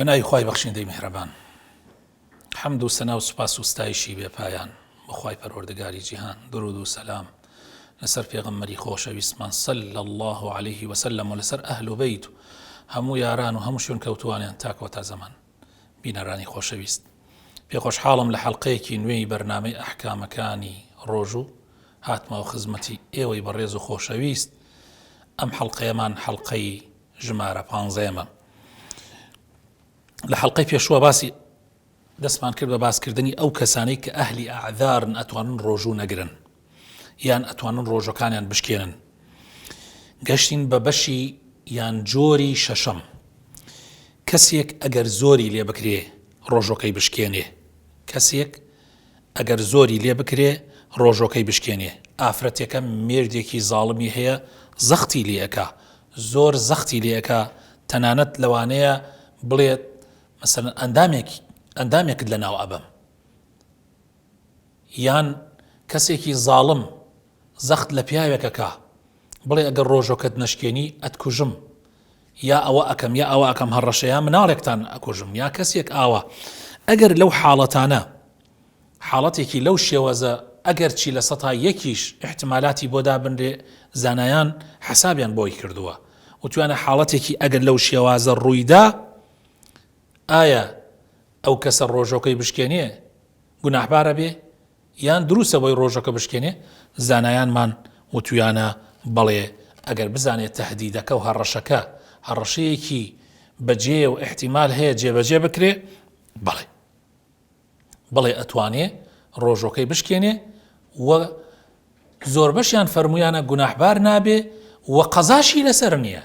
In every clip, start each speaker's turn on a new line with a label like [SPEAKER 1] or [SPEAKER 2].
[SPEAKER 1] بەناوی خی بەخشیندەی میهرەبان حەمد و سەنا و سوپاس و ستایشی بێپایان بەخوای پەروەردەگاری جیهان درود و سەسلام لەسەر پێغەممەری خۆشەویستمان سەل لە الله عليه وسلم و لەسەر ئەهل و بیت و هەموو یاران و هەموو شوێن کەوتوانیان تاکۆتا زەمان بینەرانی خۆشەویست پێ خۆشحاڵم لە حەلقەیەکی نوێی بەرنمەی ئەحکامەکانی ڕۆژوو هاتمەوە خزمەتی ئێوەی بەڕێز و خۆشەویست ئەم حەلقەیەمان حەلقەی ژمارە پانزەیەمە لە حەلقەی پێشوە باسی دەستمان کرد بە باسکردنی ئەو کەسانەی کە ئەهلی ئاعدارن ئەتوانن ڕۆژوو نەگرن یان ئەتوانن ڕۆژەکانیان بشکێنن گەشتین بە بەشی یان جۆری شەشەم کەسێک ئەگەر زۆری لێ بکرێ ڕۆژۆکەی بشکێنێ کەسێک ئەگەر زۆری لێ بکرێ ڕۆژۆکەی بشکێنێ ئافرەتێکە مێردێکی زاڵمی هەیە زەختی لەکە زۆر زەختی لەکە تەنانەت لەوانەیە بڵێت مەسەن ئەندامێک ئەندامێکت لە ناو ئەبم یان کەسێکی زاڵم زەخت لە پیاوێک ئەکا بڵێ ئەگەر ڕۆژۆکەت نەشکێنی ئەتکوژم یا ئەوە ئەکەم یا ئەوە ئەکەم هەڕەشە یا مناڵێکتان ئەکوژم یا کەسێک ئاوا ئەگەر لەو حاڵەتانە حاڵەتێکی لەو شێوەزە ئەگەر چی لە سەتا یەکیش احتمالاتی بۆ دابنرێ زانایان حەسابیان بۆی کردووە وتوانە حاڵەتێکی ئەگەر لەو شێوازە ڕوویدا ئایا ئەو کەسە ڕۆژۆکەی بشکێنێ گوناحبارە بێ یان دروستە بۆی ڕۆژەکە بشکێنێ زانایانمان وتویانە بەڵێ ئەگەر بزانێت تهدیدەکە و هەڕەشەکە هەڕەشەیەکی بەجێ و احتیمال هەیە جێبەجێ بکرێ بەڵێ بڵێ ئەتوانێ ڕۆژۆکەی بشکێنێ و زۆربەشیان فەرمویانە گوناحبار نابێ و قەزاشی لەسەر نییە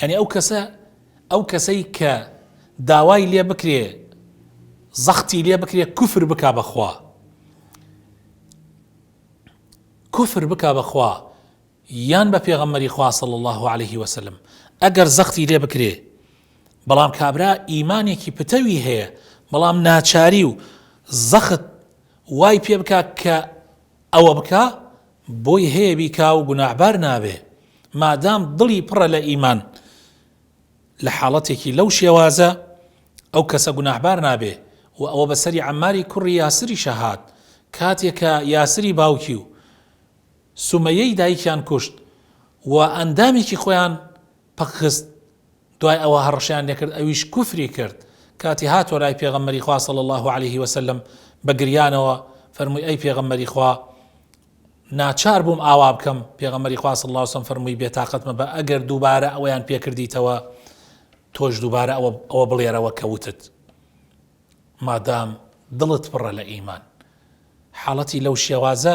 [SPEAKER 1] یانی ئەو کەسە ئەو کەسەی کە داوای لێ بکرێ زەختی لێ بکرێ کوفر بکا بەخوا کوفر بکا بەخوا یان بە پێغەمەری خواصل الله عليه وسلم ئەگەر زەختی لێ بکرێ بەڵام کابرا ئیمانێکی پتەوی هەیە بەڵام ناچاری و زەخت وای پێ بکە کە ئەوە بکە بۆی هەیە بیکا و گوناحبار نابێ مادام دڵی پڕە لە ئیمان لە حاڵەتێکی لەو شێوازە ئەو کەسە گوناحبار نابێ و ئەوە بە سەری عەماری کوڕی یاسریشە هات کاتێ کە یاسری باوکی و سومەیەی دایکیان کوشت و ئەندامێکی خۆیان پەکخست دوای ئەوە هەڕەشەیان لێکرد ئەویش کوفری کرد، کاتی هاتوە لای پێغەمبەری خوا صلی اللە علیە وسلم بە گریانەوە فەرمووی ئەی پێغەمبەری خوا ناچار بووم ئاوا بکەم، پێغەمبەری خوا صلی اللە علیە وسلم فەرمووی بێتاقەت مەبە ئەگەر دووبارە ئەوەیان پێ کردیتەوە تۆش دووبارە ئەوە ئەوە بڵێرەوە کە وتت مادام دڵت پڕە لە ئیمان حاڵەتی لەو شێوازە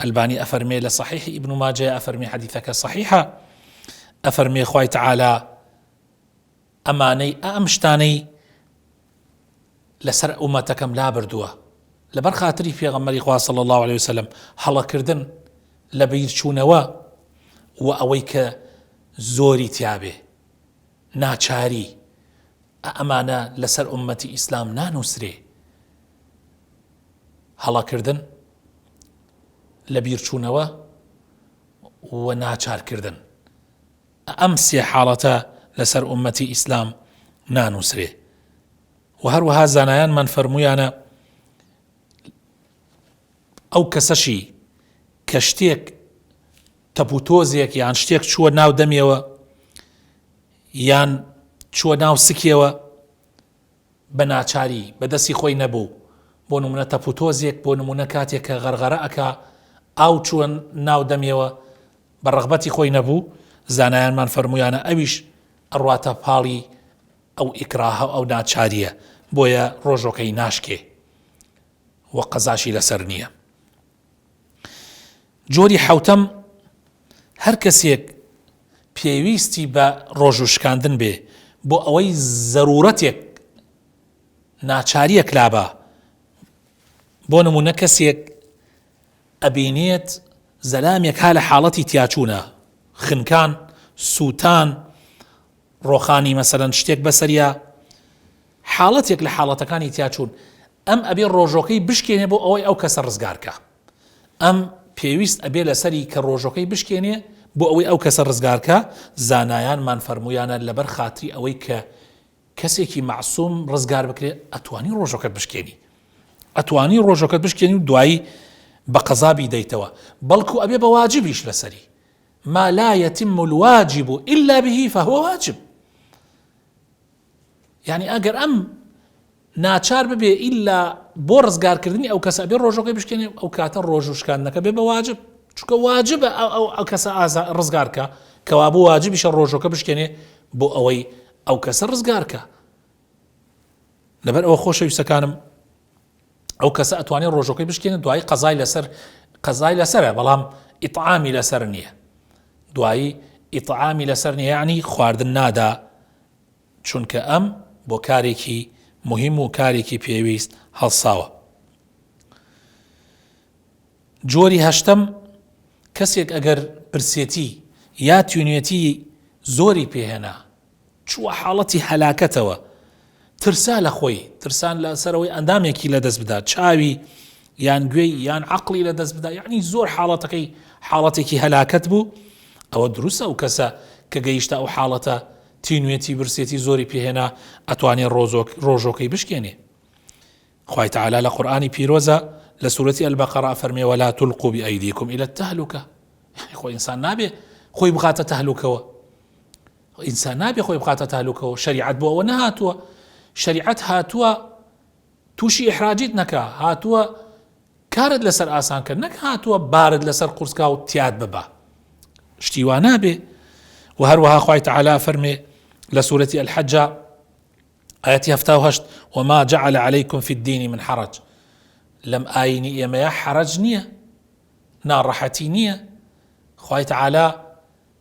[SPEAKER 1] ئەلبانی ئەفەرمێ لە صحیح ابن ماجە ئەفەرمی حەدیثەکە صحیحە ئەفەرمێ خوای تعالی ئەمانەی ئەم شتانەی لەسەر ئومەتەکەم لابردووە لەبەر خاتری پێغەمەری خوا صلی الله عليه وسلم هەڵەکردن لە بیرچوونەوە و ئەوەی کە زۆری تیاابێ ناچاری ئەمانە لەسەر ئومەتی ئیسلام نانووسرێ هەڵەکردن، لەبیرچوونەوە و ناچارکردن. ئەم سێ حاڵەتە لەسەر ئوممەتی ئیسلام نانووسرێ و هەروەها زانایانمان فەرموویانە ئەو کەسەشی کە شتێک تەپوتۆزێک یان شتێک چووە ناو دەمیەوە یان چووە ناو سکیەوە بە ناچاری بە دەستی خۆی نەبوو بۆ نمونە تەپ و تۆزێک بۆ نمونە کاتێک کە غەرغەرە ئەکا ئاو چووە ناو دەمیەوە بە ڕەغبەتی خۆی نەبوو زانایانمان فەرموویانە ئەویش ئەڕواتە پاڵی ئەو ئیکراهە و ئەو ناچارییە بۆیە ڕۆژۆکەی ناشکێ و قەزاشی لەسەر نییە جۆری حەوتەم، هەر کەسێک پێویستی بە ڕۆژوو شکاندن بێ بۆ ئەوەی زەرورەتێک ناچاریەک لابا بۆ نمونە کەسێک ئەبینێت زەلامێک ها لە حاڵەتی تیاچوونە خنکان سووتان ڕۆخانی مەسەرەن شتێک بەسەریا حاڵەتێک لە حاڵەتەکانی تیاچوون ئەم ئەبێ ڕۆژۆکەی بشکێنێ بۆ ئەوەی ئەو کەسە ڕزگار کا ئەم پێویست ئەبێ لەسەری کە ڕۆژۆکەی بشکێنێ بۆ ئەوەی ئەو کەسە ڕزگار کا زانایان مان فەرموویانە لەبەر خاتری ئەوەی کە کەسێکی مەعسوم ڕزگار بکرێ ئەتوانی ڕۆژۆکەت بشکێنی ئەتوانی ڕۆژۆکەت بشکێنی و دوایی بە قەزا بیدەیتەوە بەڵکو ئەبێ بە واجبیش لەسەری ما لا يتم الواجب إلا به فهو واجب یانی ئەگەر ئەم ناچار ببێ ئیلا بۆ ڕزگارکردنی ئەو کەسە بێ ڕۆژەکەی بشکێنێ ئەو کاتە ڕۆژ و شکاندنەکە بێ بە واجب چکە واجبە ئەو ئەو کەسە ئازا ڕزگارکە کەوا بۆ واجبیشە ڕۆژەکە بشکێنێ بۆ ئەوەی ئەو کەسە ڕزگارکە لەبەر ئەوە خۆشەویستەکانم ئەو کەسە ئەتوانێت ڕۆژەکەی بشکێنێت دوایی قەزای لەسەر قەزای لەسرە بەڵام ئیتعامی لەسەر نییە دوایی ئیتعامی لەسەر نیانی خواردن نادا چونکە ئەم بۆ کارێکی مهم و کارێکی پێویست هەڵساوە جۆری هەشتم کەسێک ئەگەر پرسێتی یا توێنێتی زۆری پێهێنا چووە حاڵەتی هەلاکەتەوە، ترسا لە خۆی، ترسان لە سەر ئەوەی ئەندامێکی لە دەست بدا، چاوی یان گوێی یان عەقڵی لە دەست بدا، یەعنی زۆر حاڵەتەکەی حاڵەتێکی هەلاکەت بوو، ئەوە دروستە ئەو کەسە کە گەیشتە ئەو حاڵەتە تینوێتی برسێتی زۆری پێ هێنا ئەتوانێ ڕۆژۆکەی بشکێنێ. خوای تعالی لە قورئانی پیرۆزە لە سورەتی البقرە فەرمێ ولا تلقوا بأيديكم إلى التهلكة یعنی خۆ ئینسان نابێ خۆی بخاتە تەهلوکەوە ئینسان نابێ خۆی بخاتە تالوکەوە شریعەت بۆ ئەوە نەهاتووە شریعەت هاتووە تووشی ئحراجیت نەکا هاتووە کارت لەسەر ئاسان کرد نەک هاتووە بارد لەسەر قورسکا و تیاد ببە شتی وا نابێ و هەروەها خی تعالا فەرمێ لە سوورەتی ئەلحەجا ئاەتی هەفتا هەشت وما جعل عليكم في الدين من حرج لەم ئاینی ئێمەیە حرج نییە ناڕەحەتی نییە خی تعالا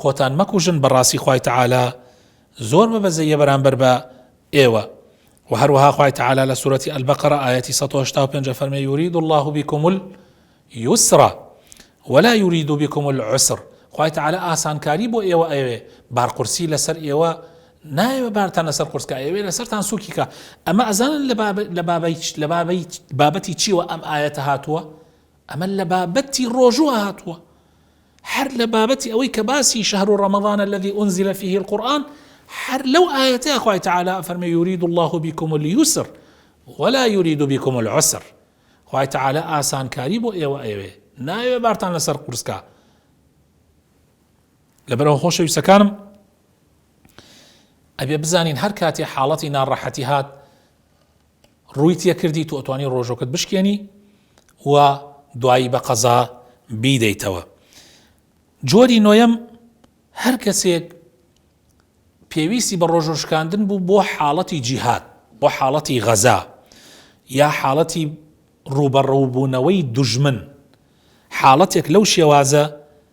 [SPEAKER 1] خۆتان مەکوژن بەڕاستی خوای تەعالا زۆر بە بەزەییە بەرامبەر بە ئێوە. وە هەروەها خوای تەعالا لە سورەتی البقرە ئایەتی سەد و هەشتا و پێنج ئەفەرمێ یوریدو اللە بیکم الیسرا ولا یوریدو بیکم العسر خوای تەعالا ئاسانکاری بۆ ئێوە ئەیەوێ بارقورسی لەسەر ئێوە نایەوێ بارتان لەسەر قورسکە ئەیەوێ لەسەرتان سوکیکە ئەمە ئەزانن لە بابەی لە بابەی بابەتی چیوە ئەم ئاەتە هاتووە ئەمە لە بابەتی ڕۆژوە هاتووە هەر لە بابەتی ئەوەی کە باسی شهر رمضان الذی انزل فیه القرآن هەر لەو ئایەتەیا خوای تەعالا ئەفەرموێ یورید اللە بکم الیسر ولا یورید بکم العسر خوای تەعالا ئاسانکاری بۆ ئێوە ئەیەوێ نایەوێ بارتان لەسەر قورس کا لەبەرەوە خۆشەویستەکانم ئەبێ بزانین هەر کاتی حاڵەتی ناڕەحەتی هات ڕووی تێکردی تۆ ئەتوانی ڕۆژۆکەت بشکێنی و دوایی بە قەزا بیدەیتەوە جۆری نۆیەم هەر کەسێک پێویستی بە ڕۆژۆ شکاندن بوو بۆ حاڵەتی جیهات بۆ حاڵەتی غەزا یا حاڵەتی ڕوبەڕووبوونەوەی دژمن حاڵەتێک لەو شێوازە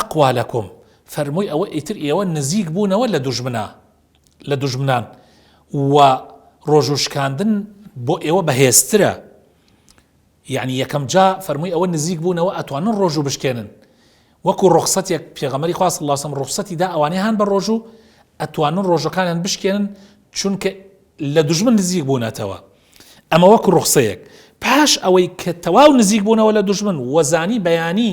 [SPEAKER 1] اقوالکم، فەرمووی ئەوە ئیتر ئێوە نزیک بوونەوە لە دوژمنا لە دوژمنان و ڕۆژوو شکاندن بۆ ئێوە بەهێزترە یەعنی یەکەم جا فەرمووی ئەوە نزیک بوونەوە ئەتوانن ڕۆژوو بشکێنن وەکو ڕوخسەتێک پێغەمەری خوا صلی اللە علیه وسلم ڕوخسەتی دا ئەوانەی هان بە ڕۆژوو ئەتوانن ڕۆژەکانیان بشکێنن چونکە لە دوژمن نزیک بوونەتەوە ئەمە وەکو ڕوخسەیەک پاش ئەوەی کە تەواو نزیک بوونەوە لە دوژمن وەزانی بەیانی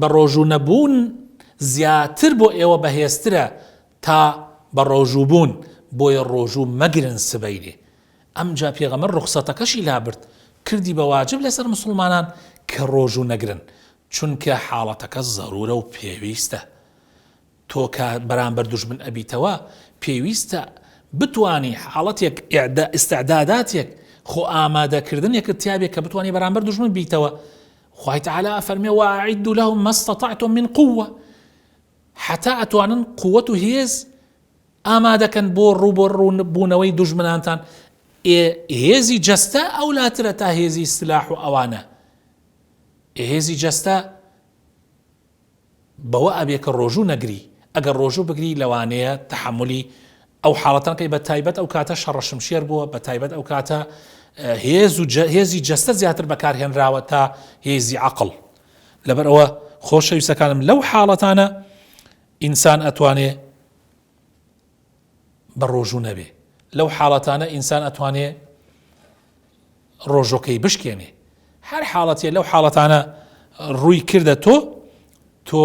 [SPEAKER 1] بە ڕۆژوو نەبوون زیاتر بۆ ئێوە بەهێزترە تا بە ڕۆژوو بوون، بۆیە ڕۆژوو مەگرن سبەینێ. ئەمجا پێغەمبەر ڕوخسەتەکەشی لابرد، کردی بە واجب لەسەر موسڵمانان کە ڕۆژوو نەگرن، چونکە حاڵەتەکە زەرورە و پێویستە. تۆ کە بەرامبەر دوژمن ئەبیتەوە پێویستە بتوانی حاڵەتێک ئیستعداداتێک خۆ ئامادەکردنێکت تیابێ کە بتوانانی بەرامبەر دوژمن بیتەوە خوای تعالی ئەفەرمێ وەعیدو لەهم ما استطعتم من قووە حتا ئەتوانن قووەت و هێز ئامادەکەن بۆ ڕووبۆ ڕوونبوونەوەی دوژمنانتان هێزی جەستە ئەو لاترە تا هێزی سلاح و ئەوانە هێزی جەستە بەوە ئەبێ کە ڕۆژوو نەگری، ئەگەر ڕۆژوو بگری لەوانەیە تەحەمولی ئەو حاڵەتە نەکەی بە تایبەت ئەو کاتە شەڕە شمشێر بووە بە تایبەت ئەو کاتە هێز و هێزی جەستە زیاتر بەکار هێنراوە تا هێزی عەقڵ لەبەر ئەوە خۆشەویستەکانم لەو حاڵەتانە ئینسان ئەتوانێ بە ڕۆژوو نەبێ لەو حاڵەتانە ئینسان ئەتوانێ ڕۆژۆکەی بشکێنێ هەر حاڵەتێ لەو حاڵەتانە ڕووی کردە تۆ تۆ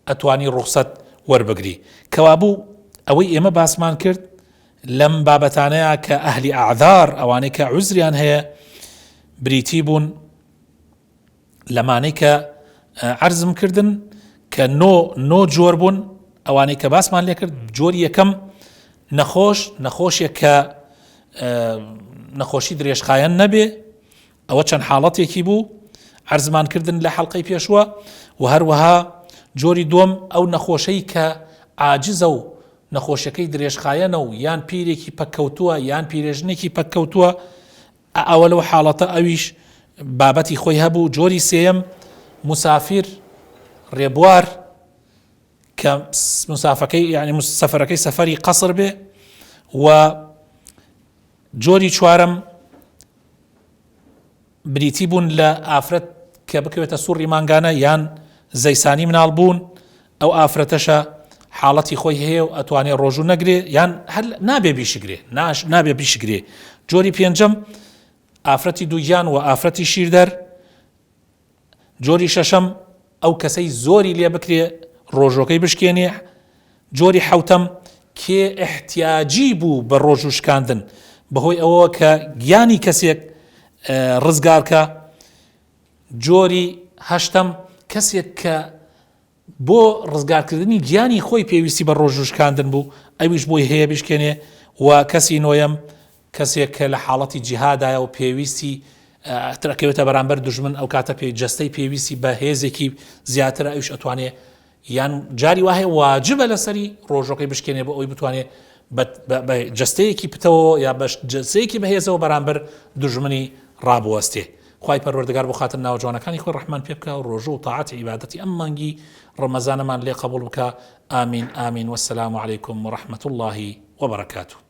[SPEAKER 1] ئەتوانی ڕوخسەت وەربگری کەوابوو ئەوەی ئێمە باسمان کرد لەم بابەتانەیە کە ئەهلی ئاعدار ئەوانەی کە عزریان هەیە بریتی بوون لەمانەی کە عەرزم کردن کە نۆ نۆ جۆر بوون ئەوانەی کە باسمان لێکرد جۆری یەکەم نەخۆش نەخۆشێک کە نەخۆشی درێژخایەن نەبێ ئەوە چەند حاڵەتێکی بوو عەرزمان کردن لە حەڵلقەی پێشوە و هەروەها جۆری دوم ئەو نەخۆشەی کە ئاجزە و نەخۆشەکەی درێژخایەنە و یان پیرێکی پەککەوتووە یان پیرێژنێکی پەککەوتووە ئە ئەوە لەو حاڵەتە ئەویش بابەتی خۆی هەبوو جۆری سێیەم مسافر ڕێبوار کە مسافەکەی یعنی سەفەرەکەی سەفەری قەسر بێ و جۆری چوارم بریتی بوون لە ئافرەت کە بکەوێتە سوڕی مانگانە یان زەیسانی مناڵ بوون ئەو ئافرەتەشە حاڵەتی خۆی هەیە و ئەتوانێ ڕۆژوو نەگرێ یان هەر نابێ بیشگرێ ناش نابێ بیشگرێ جۆری پێنجەم ئافرەتی دووگیان و ئافرەتی شیردەر جۆری شەشەم ئەو کەسەی زۆری لێ بکرێ ڕۆژۆکەی بشکێنێ جۆری حوتەم کێ احتیاجی بوو بە ڕۆژوو شکاندن بەهۆی ئەوە کە گیانی کەسێک ڕزگارکە جۆری هەشتم کەسێک کە بۆ ڕزگارکردنی گیانی خۆی پێویستی بە ڕۆژ و شکاندن بوو، ئەویش بۆی هەیە بیشکێنێ و کەسی نۆیەم، کەسێک کە لە حاڵەتی جیهادایە و پێویستی تر ئەکەوێتە بەرامبەر دوژمن، ئەو کاتە پێ جەستەی پێویستی بە هێزێکی زیاترە، ئەویش ئەتوانێ یان جاری وا هەیە واجبە لەسەری ڕۆژەکەی بشکێنێ بۆ ئەوەی بتوانێ بە جەستەیەکی پتەوەوە یا بە جەستەیەکی بەهێزەوە بەرامبەر دوژمنی ڕابوەستێ. خوای پەروەردگار بۆ خاتر ناوە جوانەکانی خۆی ڕەحمان پێ بکا و ڕۆژوو و تاعەت عیبادەتی ئەم مانگی ڕەمەزانەمان لێ قەبوڵ بکا ئامین ئامین وەسەلام علیکم وەڕەحمەت اللە وبەڕەکاتوو.